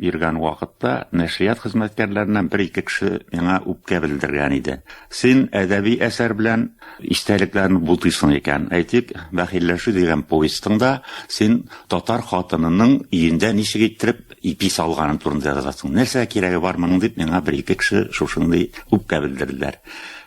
Биргән вакытта нәшрият хезмәткәрләреннән бер-ике кеше миңа үпкә белдергән иде. Син әдәби әсәр белән истәлекләрне бутыйсың икән. Әйтик, Бәхилләшү дигән повестыңда син татар хатынының өендә ничек иттереп ипи салганы турында язасың. Нәрсә кирәге бар моның дип миңа бер-ике кеше шушындый үпкә белдерделәр.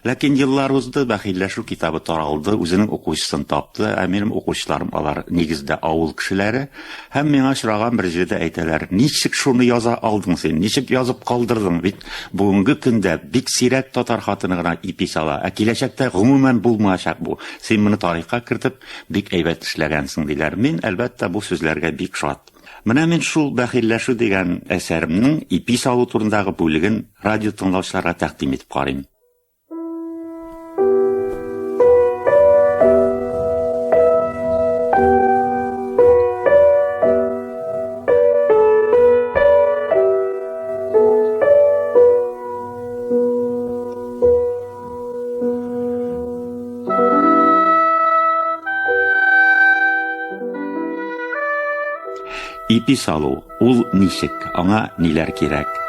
Ләкин еллар узды, Бәхилләшү китабы таралды, үзенең укучысын тапты, ә минем укучыларым алар, нигездә, авыл кешеләре. Һәм миңа очраган бер җирдә әйтәләр, Ничек шуны яза алдың син, ничек язып калдырдың, бит бүгенге көндә бик сирәк татар хатыны гына ипи сала, ә киләчәктә гомумән булмаячак бу, син моны тарихка кертеп, бик әйбәт эшләгәнсең, диләр. Мин, әлбәттә, бу сүзләргә бик шат. Менә мин шул Бәхилләшү дигән әсәремнең ипи салу турындагы бүлеген радиотыңлаучыларга тәкъдим итеп карыйм. Ипи салу, ул ничек, аңа ниләр кирәк?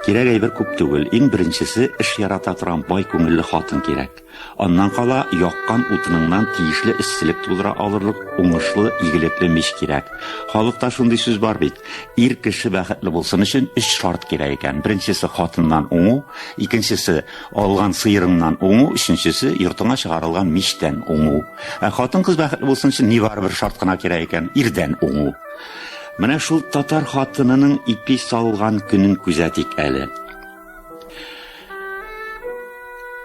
Кирәк әйбер күп түгел. Иң беренчесе эш ярата торган бай күңелле хатын кирәк. Аннан кала яккан утыныңнан тиешле эсселек тудыра алырлык уңышлы, игелекле мич кирәк. Халыкта шундый сүз бар бит. Ир кеше бәхетле булсын өчен өч шарт кирәк икән. Беренчесе хатыннан уңу, икенчесе Алган сыерыңнан уңу, өченчесе, йортыңа чыгарылган мичтән уңу. Ә хатын-кыз бәхетле булсын өчен ни бары бер шарт кына кирәк икән, ирдән уңу. Менә шул татар хатынының ипи салган көнен күзәтик әле.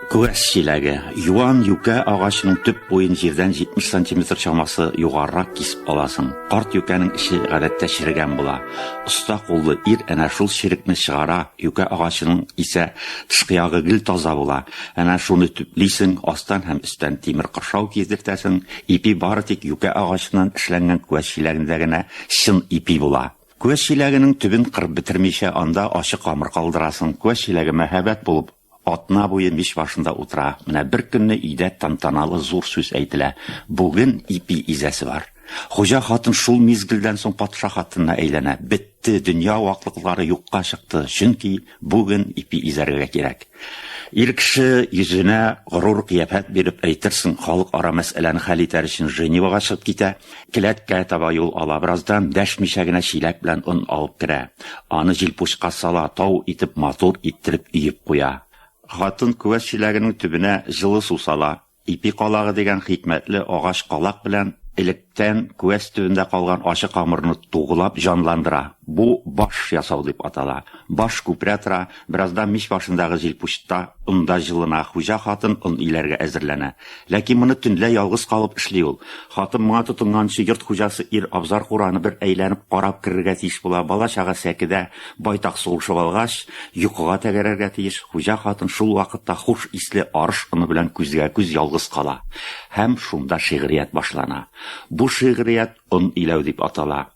Күәс чиләге. Юан юкә агачының төп буен җирдән 70 сантиметр чамасы югарырак кисеп аласың. Карт юкәнең эче гадәттә черегән була. Оста куллы ир әнә шул черекне чыгара, Юкә агачының исә тышкы ягы гел таза була. Әнә шуны төплисең, астан һәм өстән тимер кыршау кидертәсең. Ипи бары тик юкә агачыннан эшләнгән күәш чиләгендә генә чын ипи була. Күәш чиләгенең төбен кырып бетермичә, анда ачык камыр калдырасың. Күәш чиләге мәһабәт булып, Атна буе мич башында утыра. Менә беркөнне өйдә тантаналы зур сүз әйтелә. Бүген ипи изәсе бар. Хуҗа хатын шул мизгелдән соң патша хатынына әйләнә. Бетте, дөнья ваклыклары юкка чыкты, чөнки бүген ипи изәргә кирәк. Ир кеше йөзенә горур кыяфәт биреп, әйтерсең, халыкара мәсьәләне хәл итәр өчен Женевага чыгып китә. Келәткә таба юл ала. Бераздан дәшмичә генә чиләк белән он алып керә. Аны җилпучка сала, тау итеп матур иттереп өеп куя. Хатын күәш чиләгенең төбенә җылы су сала. Ипи калагы дигән хикмәтле агач калак белән электән күәш төбендә калган ачы камырны тугылап җанландыра. Бу баш ясау дип атала. Баш күперә тора, Бераздан мич башындагы җилпучта он да җылына, хуҗа хатын он иләргә әзерләнә. Ләкин моны төнлә ялгыз калып эшли ул. Хатын моңа тотынганчы йорт хуҗасы ир абзар-кураны бер әйләнеп карап керергә тиеш була, бала-чага сәкедә байтак сугышып алгач, йокыга тәгәрәргә тиеш. Хуҗа хатын шул вакытта хуш исле арыш оны белән күзгә-күз ялгыз кала. Һәм шунда шигърият башлана. Бу шигърият Он иләү дип атала.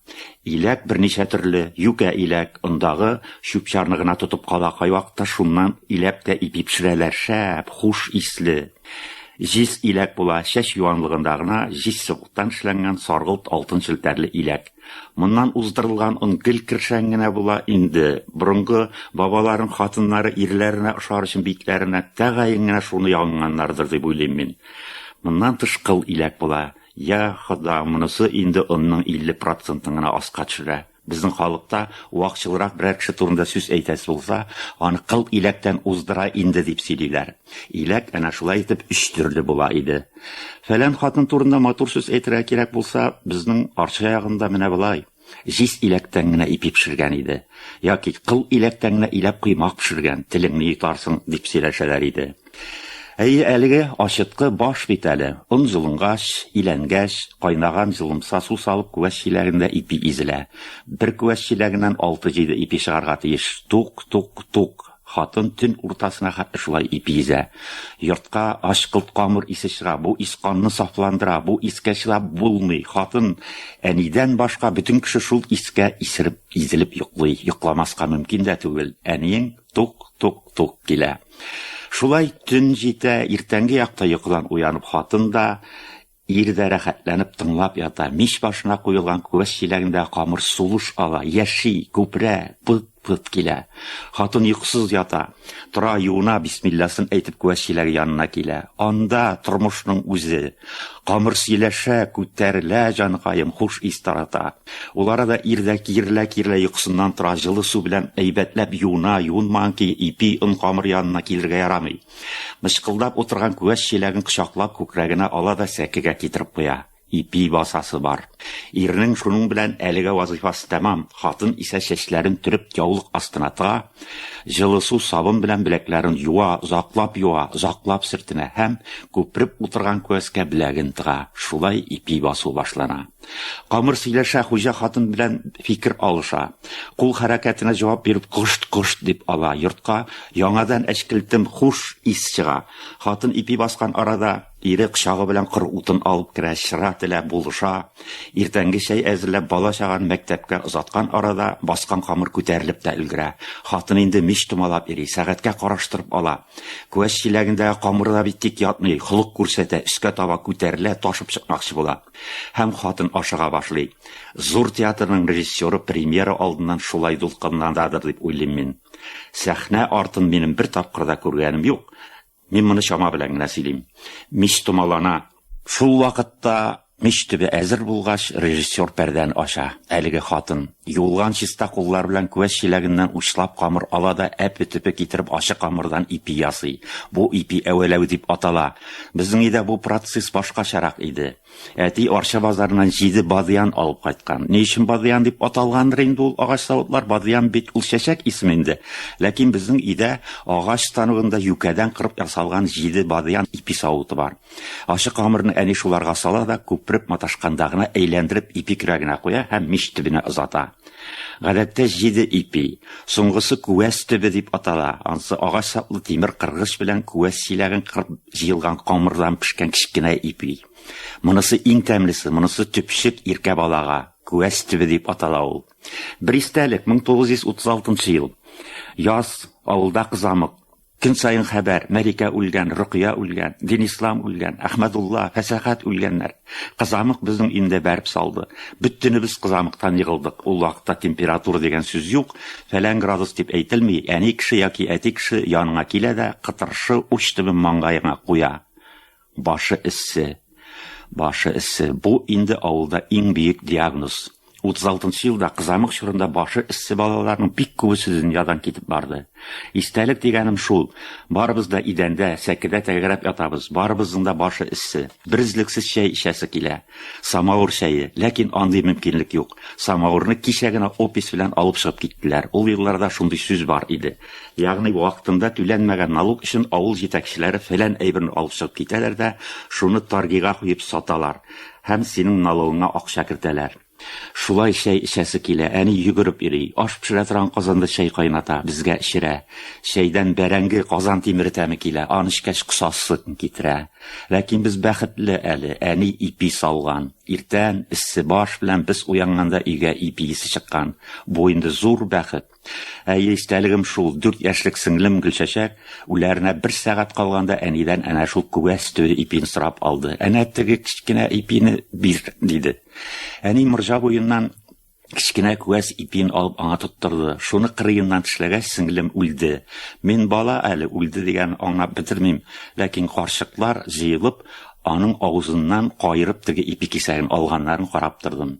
Иләк берничә төрле, юкә иләк, ондагы чүп-чарны гына тотып кала, кайвакытта шуннан иләп тә ипи пешерәләр, шәп, хуш исле. Җиз иләк була, чәч юанлыгында гына җиз сыгылттан эшләнгән саргылт алтын челтәрле иләк. Моннан уздырылган он гел кершән генә була инде. Борынгы бабаларым хатыннары ирләренә ошар өчен битләренә тәгаен генә шуны ягынганнардыр дип уйлыйм мин. Моннан тыш кыл иләк була. Я, Хода, монысы инде онның 50 процентын гына аска төшерә. Безнең халыкта вакчылрак берәр кеше турында сүз әйтәсе булса, аны кыл иләктән уздыра инде дип сөйлиләр. Иләк әнә шулай итеп өч төрле була иде. Фәлән хатын турында матур сүз әйтергә кирәк булса, безнең Арча ягында менә болай. Җиз иләктән генә ипи пешергән иде. Яки кыл иләктән генә иләп коймак пешергән, телеңне йотарсың, дип сөйләшәләр иде. Әйе, әлеге ачыткы баш бит әле. Он җылынгач, иләнгәч, кайнаган җылымса су салып күәш чиләгендә ипи изелә. Бер күәш чиләгеннән алты-җиде ипи чыгарга тиеш. Тук, тук, тук. Хатын төн уртасына хәтле шулай ипи изә. Йортка ачкылт камыр исе чыга. Бу ис канны сафландыра. Бу искә чыдап булмый. Хатын, әнидән башка, бөтен кеше шул искә исереп, изелеп йоклый. Йокламаска мөмкин дә түгел. Әниең тук, тук, тук килә. Шулай төн җитә, иртәнге якта йокыдан уянып хатын да, Ир дә рәхәтләнеп тыңлап ята, мич башына куелган күәс чиләгендә камыр сулыш ала, яши, күперә, пыт-пыт килә. Хатын йокысыз ята. Тора, юына, бисмилласын әйтеп күәс чиләге янына килә. Анда, тормышның үзе. Камыр сөйләшә, күтәрелә, җаныкаем, хуш ис тарата. Ул арада ир дә киерелә-киерелә йокысыннан тора, җылы су белән әйбәтләп юына, юынмаган көе ипи, он камыр янына килергә ярамый. Мычкылдап утырган күәч чиләген кочаклап күкрәгенә ала да сәкегә китереп куя. Ипи басасы бар. Ирнең шуның белән әлегә вазыйфасы тәмам, хатын исә чәчләрен төреп яулык астына тыга, җылы су, сабын белән беләкләрен юа, озаклап юа, озаклап сөртенә һәм күпереп утырган күәскә беләген тыга. Шулай ипи басу башлана. Камыр сөйләшә, хуҗа хатын белән фикер алыша. Кул хәрәкәтенә җавап биреп кошт-кошт дип ала. Йортка яңадан әчкелтем хуш ис чыга. Хатын ипи баскан арада ире кочагы белән кыр утын алып керә, чыра телә, булыша. Иртәнге чәй әзерләп, бала-чаганы мәктәпкә озаткан арада баскан камыр күтәрелеп тә өлгерә. Хатын инде мич томалап йөри, сәгатькә караштырып ала. Күәш чиләгендәге камыр да бит тик ятмый, холык күрсәтә, өскә таба күтәрелә, ташып чыкмакчы була. Һәм хатын ашыга башлый. Зур театрның режиссеры премьера алдыннан шулай дулкынланадыр дип уйлыйм мин. Сәхнә артын минем бер тапкыр да күргәнем юк. Мин моны чама белән генә сөйлим. Мич томалана. Шул вакытта Мич төбе әзер булгач, режиссер пәрдәне ача. Әлеге хатын юылган чиста куллар белән күәш чиләгеннән учлап камыр ала да әпе-төпе китереп ачы камырдан ипи ясый. Бу ипи әвәләү дип атала. Безнең өйдә бу процесс башкачарак иде. Әти Арча базарыннан җиде бадыян алып кайткан. Ни өчен бадыян дип аталгандыр инде ул агач савытлар, бадыян бит ул чәчәк исеме инде. Ләкин безнең өйдә агач станогында юкәдән кырып ясалган җиде бадыян ипи савыты бар. Ачы камырны әни шуларга сала да, күпереп маташканда гына әйләндереп ипи көрәгенә куя һәм мич төбенә озата. Гадәттә җиде ипи. Соңгысы күәс төбе дип атала. Ансы агач саплы тимер кыргыч белән күәс чиләген кырып җыелган камырдан пешкән кечкенә ипи. Монысы иң тәмлесе, монысы төпчек иркә балага. Күәс төбе дип атала ул. Бер истәлек, 1936 ел. Яз, авылда кызамык. Көн саен хәбәр, Мәликә үлгән, Рокыя үлгән, Динислам үлгән, Әхмәдулла, Фәсәхәт үлгәннәр. Кызамык безнең инде бәреп салды. Бөттенебез кызамыктан егылдык. Ул вакытта температура дигән сүз юк, фәлән градус дип әйтелми, әни кеше яки әти кеше яныңа килә дә, кытыршы уч төбен маңгаеңа куя. Башы эссе. Башы эссе. Бу инде авылда иң биек диагноз. 36 елда кызамык чорында башы эссе балаларның бик күбесе дөньядан китеп барды. Истәлек дигәнем шул. Барыбыз да идәндә, сәкедә тәгәрәп ятабыз. Барыбызның да башы эссе. Беризлексез чәй эчәсе килә. Самавыр чәе, ләкин андый мөмкинлек юк. Самавырны кичә генә опись белән алып чыгып киттеләр. Ул елларда шундый сүз бар иде. Ягъни вакытында түләнмәгән налог өчен авыл җитәкчеләре фәлән әйберне алып чыгып китәләр дә, шуны торгига куеп саталар һәм синең налогыңа акча кертәләр. Шулай чәй эчәсе килә, әни йөгереп йөри, аш пешерә торган казанда чәй кайната, безгә эчерә. Чәйдән бәрәңге, казан тимере тәме килә, аны эчкәч косасы китерә. Ләкин без бәхетле әле, әни ипи салган. Иртән, эссе баш белән без уянганда өйгә ипи исе чыккан. Бу инде зур бәхет. Әйе, истәлегем шул, дүрт яшьлек сеңлем Гөлчәчәк үләренә бер сәгать калганда әнидән әнә шул күгәс төе ипин сорап алды. Әнә теге кечкенә ипине бир, диде. Әни морҗа буеннан кечкенә күгәс ипин алып аңа тоттырды. Шуны кырыеннан тешләгәч, сеңлем үлде. Мин бала әле үлде дигән аңлап бетермим, ләкин карчыклар җыелып, аның авызыннан каерып теге ипи кисәген алганнарын карап тордым.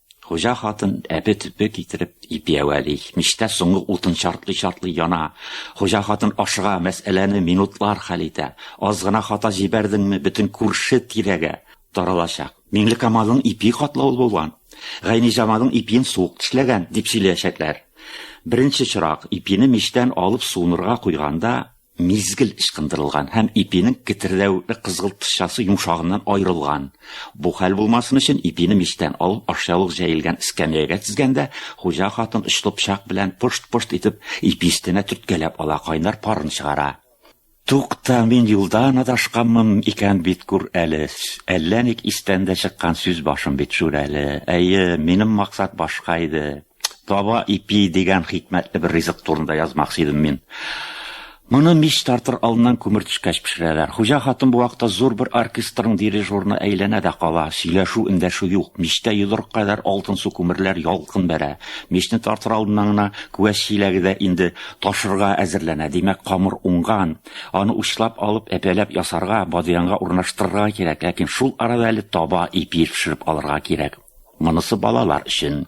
Хуҗа хатын әпе төпе китереп ипиәвәли. Мичтә соңгы утын чартлый-чартлый яна. Хуҗа хатын ашыга, мәсьәләне минутлар хәл итә. Аз гына хата җибәрдеңме, бөтен күрше тирәгә таралачак. Миңлекамалның ипи катлаулы булган. Гайниҗамалның ипиен суык тешләгән, дип сөйләячәкләр. Беренче чырак ипине мичтән алып суынырга куйганда, мизгел ычкындырылган һәм ипинең кетердәвекле кызгылтчасы йомшагыннан аерылган. Бу хәл булмасын өчен ипине мичтән алып ашъяулык җәелгән эскәмиягә тезгәндә, хуҗа хатын очлы пычак белән пошт-пошт итеп ипи өстенә төрткәләп ала, кайнар парын чыгара. Тукта, мин юлдан адашканмын икән бит, күр әле, әллә ник истән дә чыккан сүз башым бит, Шүрәле. Әйе, минем максат башка иде. Таба ипи дигән хикмәтле бер ризык турында язмакчы идем мин. Моны мич тартыр алдыннан күмер төшкәч пешерәләр. Хуҗа хатын бу вакытта зур бер оркестрның дирижерына әйләнә дә кала. Сөйләшү, эндәшү юк. Мичтә йодрык кадәр алтын су күмерләр ялкын бәрә. Мичне тартыр алдыннан гына күәс чиләге дә инде ташырга әзерләнә. Димәк, камыр уңган. Аны учлап алып, әпәләп ясарга, бадыянга урнаштырырга кирәк. Ләкин шул арада әле таба ипи пешереп алырга кирәк. Монысы балалар өчен.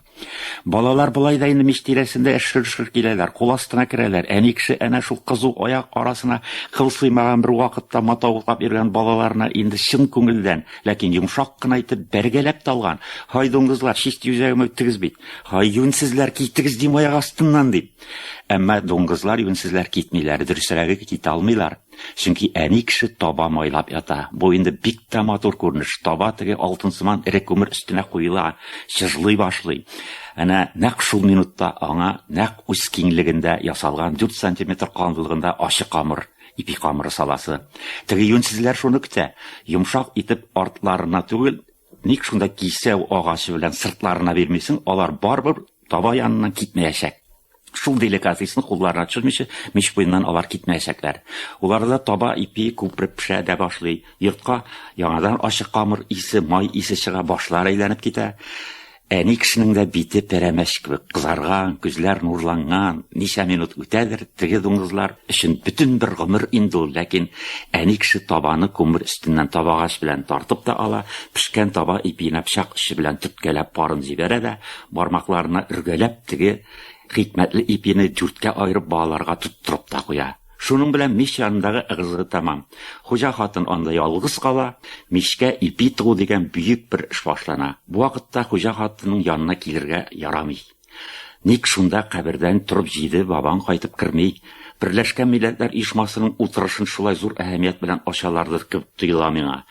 Балалар болай да инде мич тирәсендә шыр-шыр киләләр, кул астына керәләр. Әни кеше әнә шул кызу аяк арасына кыл сыймаган бер вакытта матавыклап йөргән балаларына инде чын күңелдән, ләкин йомшак кына итеп бәргәләп талган. Һай дуңгызлар, чист юзәгем үттегез бит. Һай юнсезләр, китегез дим аяк астыннан, дип. Әмма дуңгызлар, юнсезләр китмиләр, дөресрәге китә алмыйлар. Чөнки әни кеше таба майлап ята. Бу инде бик тә матур күренеш. Таба теге алтынсыман эре күмер өстенә куела, чыжлый башлый. Әнә нәкъ шул минутта аңа нәкъ үз киңлегендә ясалган 4 сантиметр калынлыгында ачы камыр, ипи камыры саласы. Теге юньсезләр шуны көтә. Йомшак итеп артларына түгел, Ник шунда кисәү агачы белән сыртларына бирмисең, алар барбыр таба яныннан китмәячәк. Шул деликатесны кулларына төшермичә, мич буеннан алар китмәячәкләр. Уларда таба ипи күпреп пешә дә башлый. Йортка яңадан ачы камыр исе, май исе чыга, башлар әйләнеп китә. Әни кешенең дә бите пәрәмәч кебек кызарган, күзләр нурланган. Ничә минут үтәдер, теге дуңгызлар өчен бөтен бер гомер инде ул, ләкин әни кеше табаны күмер өстеннән табагач белән тартып та ала, пешкән таба ипиенә пычак очы белән төрткәләп парын җибәрә дә, бармакларына өргәләп теге хикмәтле ипине дүрткә аерып балаларга тоттырып та куя. Шуның белән мич янындагы ыгы-зыгы тәмам. Хуҗа хатын анда ялгыз кала, мичкә ипи тыгу дигән бөек бер эш башлана. Бу вакытта хуҗа хатынның янына килергә ярамый. Ник шунда кабердән торып җиде бабаң кайтып керми? Берләшкән Милләтләр Оешмасының утырышын шулай зур әһәмият белән ачалардыр кебек тоела миңа.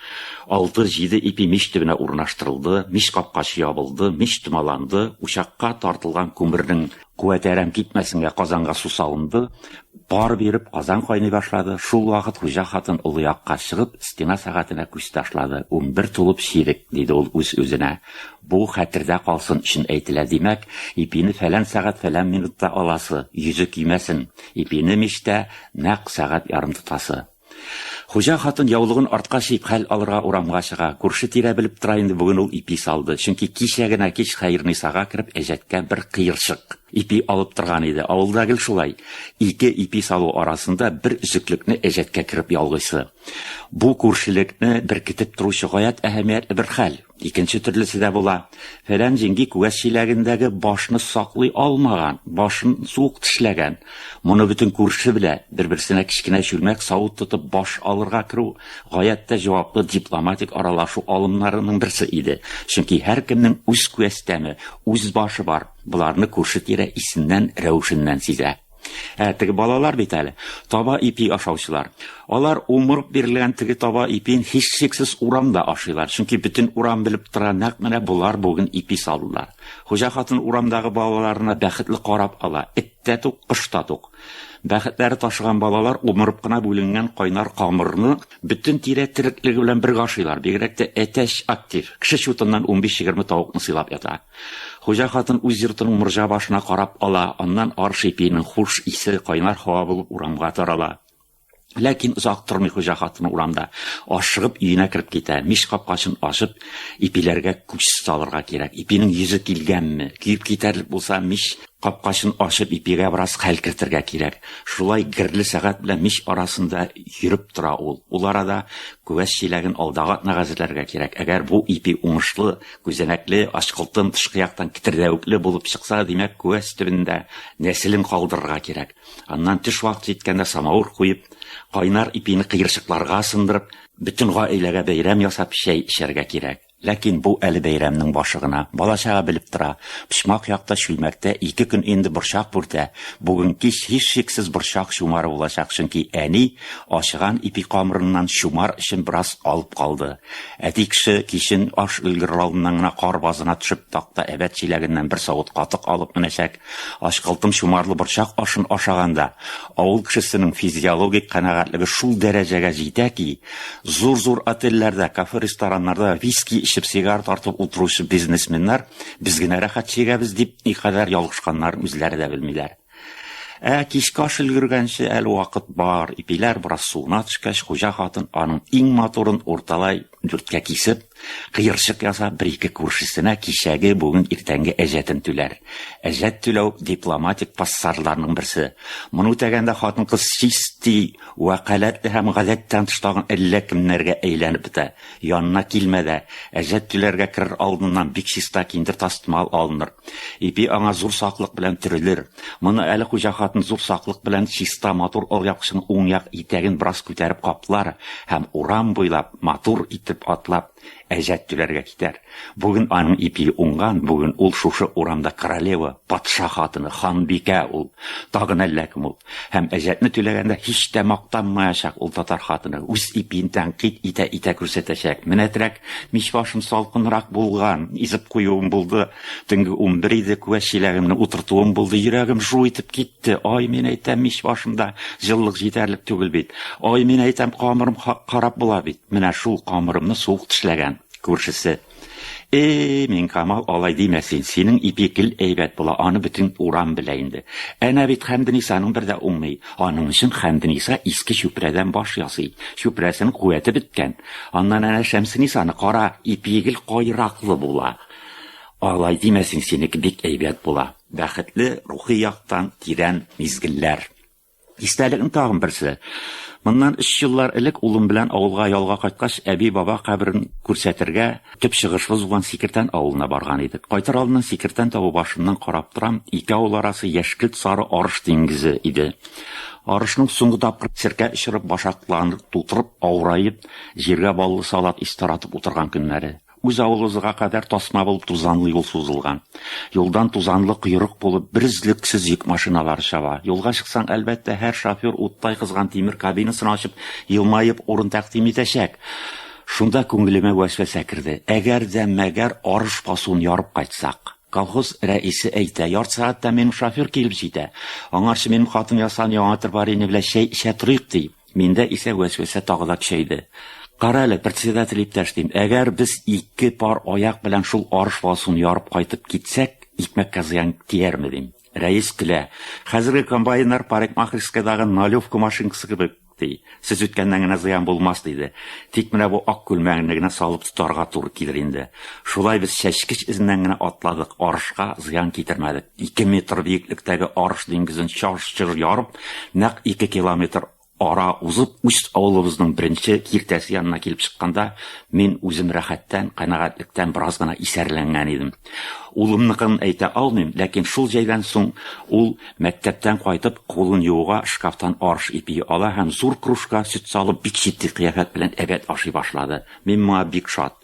Алты җиде ипи мич төбенә урнаштырылды, мич капкачы ябылды, мич томаланды, учакка тартылган күмернең Куәтәрәм китмәсенгә казанга су салынды, пар биреп казан кайный башлады, шул вакыт хуҗа хатын олы якка чыгып стена сәгатенә күз ташлады, унбер тулып чирек, диде ул үз-үзенә, бу хәтердә калсын өчен әйтелә, димәк, ипине фәлән сәгать фәлән минутта аласы, йөзе көймәсен, ипине мичтә нәкъ сәгать ярым тотасы. Хуҗа хатын яулыгын артка чөеп хәл алырга урамга чыга. Күрше-тирә белеп тора инде бүген ул ипи салды. Чөнки кичә генә кич Хәернисага кереп әҗәткә бер кыерчык ипи алып торган иде. Авылда гел шулай, ике ипи салу арасында бер өзеклекне әҗәткә кереп ялгыйсы. Бу күршелекне беркетеп торучы гаять әһәмиятле бер хәл. Икенче төрлесе дә була. Фәлән җиңги күгәс чиләгендәге башны саклый алмаган, башын суык тешләгән. Моны бөтен күрше белә. Бер-берсенә кечкенә чүлмәк савыт тотып баш алырга керү гаять тә җаваплы дипломатик аралашу алымнарының берсе иде. Чөнки һәркемнең үз күәстәме, үз башы бар. Боларны күрше-тирә исеннән, рәвешеннән сизә. Ә теге балалар бит әле, таба ипи ашаучылар. Алар умырып бирелгән теге таба ипин һичшиксез урамда ашыйлар, чөнки бөтен урам белеп тора, нәкъ менә болар бүген ипи салдылар. Хуҗа хатын урамдагы балаларына бәхетле карап ала, эт тә тук, кош та тук. Бәхетләре ташыган балалар умырып кына бүленгән кайнар камырны бөтен тирә тереклеге белән бергә ашыйлар, бигрәк тә әтәч актив, кеше чутыннан 15-20 тавыкны сыйлап ята. Хуҗа хатын үз йортының морҗа башына карап ала, аннан арыш ипиенең хуш исе кайнар һава булып урамга тарала. Ләкин озак тормый хуҗа хатыны урамда, ашыгып өенә кереп китә. Мич капкачын ачып, ипиләргә күз салырга кирәк. Ипинең йөзе килгәнме? Көеп китәрлек булса, мич капкачын ачып, ипигә бераз хәл кертергә кирәк. Шулай герле сәгать белән мич арасында йөреп тора ул. Ул арада күәс чиләген алдагы атнага әзерләргә кирәк. Әгәр бу ипи уңышлы Күзәнәкле ачкылтын тышкы яктан китердәвекле булып чыкса, димәк, күәс төбендә нәселен калдырырга кирәк. Аннан төш вакыты җиткәндә самавыр куеп, кайнар ипине кыерчыкларга сындырып, бөтен гаиләгә бәйрәм ясап чәй эчәргә кирәк. Ләкин бу әле бәйрәмнең башы гына. Балачага белеп тора. Почмак якта чүлмәктә ике көн инде борчак бүртә. Бүген кич һичшиксез борчак чумары булачак, чөнки әни ачыган ипи камырыннан чумар өчен бераз алып калды. Әти кеше кичен аш өлгерлавыннан гына кар базына төшеп такта әбәт чиләгеннән бер савыт катык алып менәчәк, ачкылтым чумарлы борчак ашын ашаганда, авыл кешесенең физиологик канәгатьлеге шул дәрәҗәгә җитә ки, зур-зур отельләрдә, кафе-рестораннарда виски эчеп сигар тартып утыручы бизнесменнар без генә рәхәт чигәбез дип никадәр ялгышканнарын үзләре дә белмиләр. Ә кичке аш өлгергәнче әле вакыт бар. Ипиләр бераз суына төшкәч, хуҗа хатын аның иң матурын урталай дүрткә кисеп, кыерчык ясап, бер-ике күршесенә кичәге, бүген, иртәнге әҗәтен түләр. Әҗәт түләү, дипломатик пассажларның берсе. Моны үтәгәндә хатын-кыз чисти вәкаләтле һәм гадәттән тыш тагын әллә кемнәргә әйләнеп бетә. Янына килмә дә, әҗәт киләргә керер алдыннан бик чиста киндер тастымал алыныр. Ипи аңа зур саклык белән төрелер. Моны әле хуҗа хатын зур саклык белән чиста матур алъяпкычының уң як итәген бераз күтәреп каплар һәм урам буйлап матур итеп атлап әҗәт түләргә китәр. Бүген аның ипи уңган, бүген ул шушы урамда королева, патша хатыны, ханбикә ул. Тагын әллә кем ул. Һәм әҗәтне түләгәндә һич тә мактанмаячак ул татар хатыны, үз ипиен тәнкыйть итә-итә күрсәтәчәк. Менә терәк мич башым салкынрак булган, изеп куюым булды, төнге унбер иде, күәш чиләгемне утыртуым булды, йөрәгем жу итеп китте. Ай, мин әйтәм, мич башымда җылылык җитәрлек түгел бит. Ай, мин әйтәм, камырым хак карап була бит. Менә шул камырымны суык тешләгән күршесе. Эй, Минкамал, алай димә син. Синең ипи гел әйбәт була, аны бөтен урам белә инде. Әнә бит Хәмденисаның бер дә уңмый. Аның өчен Хәмдениса иске чүпрәдән баш ясый. Чүпрәсенең куәте беткән. Аннан әнә Шәмсенисаны кара, ипи гел кайраклы була. Алай димә син, синеке бик әйбәт була. Бәхетле, рухи яктан тирән мизгелләр. Истәлекнең тагын берсе. Моннан өч еллар элек улым белән авылга ялга кайткач, әби-баба каберен күрсәтергә төп чыгышыбыз булган Сикертән авылына барган идек. Кайтыр алдыннан Сикертән табу башыннан карап торам, ике авыл арасы яшькелт-сары арыш диңгезе иде. Арышның соңгы тапкыр серкә очырып, башакларын тутырып, авыраеп, җиргә баллы салат ис таратып утырган көннәре. Үз авылыбызга кадәр тасма булып тузанлы юл сузылган. Юлдан тузанлы койрык булып берөзлексез йөк машиналары чаба. Юлга чыксаң, әлбәттә, һәр шофер уттай кызган тимер кабинасын ачып, елмаеп урын тәкъдим итәчәк. Шунда күңелемә вәсвәсә керде. Әгәр дә мәгәр арыш басуын ярып кайтсак. Колхоз рәисе әйтә, ярты сәгатьтә минем шофер килеп җитә. Аңарчы минем хатын ясаган яңа тырбарине белән чәй эчә торыйк, ди. Миндә исә вәсвәсә тагы да көчәйде. Кара әле, председатель иптәш, дим, әгәр без ике пар аяк белән шул арыш валсун ярып кайтып китсәк, икмәккә зыян тиярме, дим. Рәис көлә. Хәзерге комбайннар парикмахерскойдагы налевка машинкасы кебек, ди. Сез үткәннән генә зыян булмас, диде. Тик менә бу ак күлмәгеңне генә салып тотарга туры килер инде. Шулай без чәчкеч эзеннән генә атладык, арышка зыян китермәдек. Ике метр биеклектәге Арыш диңгезен чаж-чыж ярып, нәкъ ике километр ара узып, үз авылыбызның беренче киртәсе янына килеп чыкканда, мин үзем рәхәттән, канәгатьлектән бераз гына исәрләнгән идем. Улымныкын әйтә алмыйм, ләкин шул җәйдән соң ул, мәктәптән кайтып, кулын юуга шкафтан арыш ипие ала һәм зур кружка сөт салып, бик җитди кыяфәт белән әбәт ашый башлады. Мин моңа бик шат.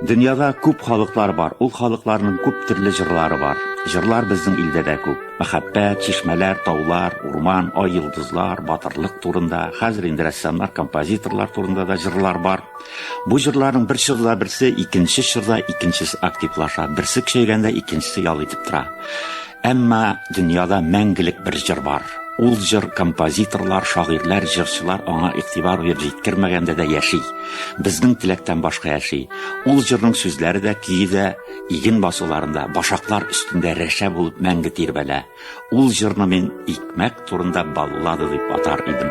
Дөньяда күп халыклар бар. Ул халыкларның күп төрле җырлары бар. Җырлар безнең илдә дә күп. Мәхәббәт, чишмәләр, таулар, урман, ай, йолдызлар, батырлык турында. Хәзер инде рәссамнар, композиторлар турында да җырлар бар. Бу җырларның бер чорда берсе, икенче чорда икенчесе активлаша. Берсе көчәйгәндә икенчесе ял итеп тора. Әмма дөньяда мәңгелек бер җыр бар. Ул җыр композиторлар, шагыйрьләр, җырчылар аңа игътибар биреп җиткермәгәндә дә яши. Безнең теләктән башка яши. Ул җырның сүзләре дә, көе дә иген басуларында, башаклар өстендә рәшә булып мәңге тирбәлә. Ул җырны мин икмәк турында баллада дип атар идем.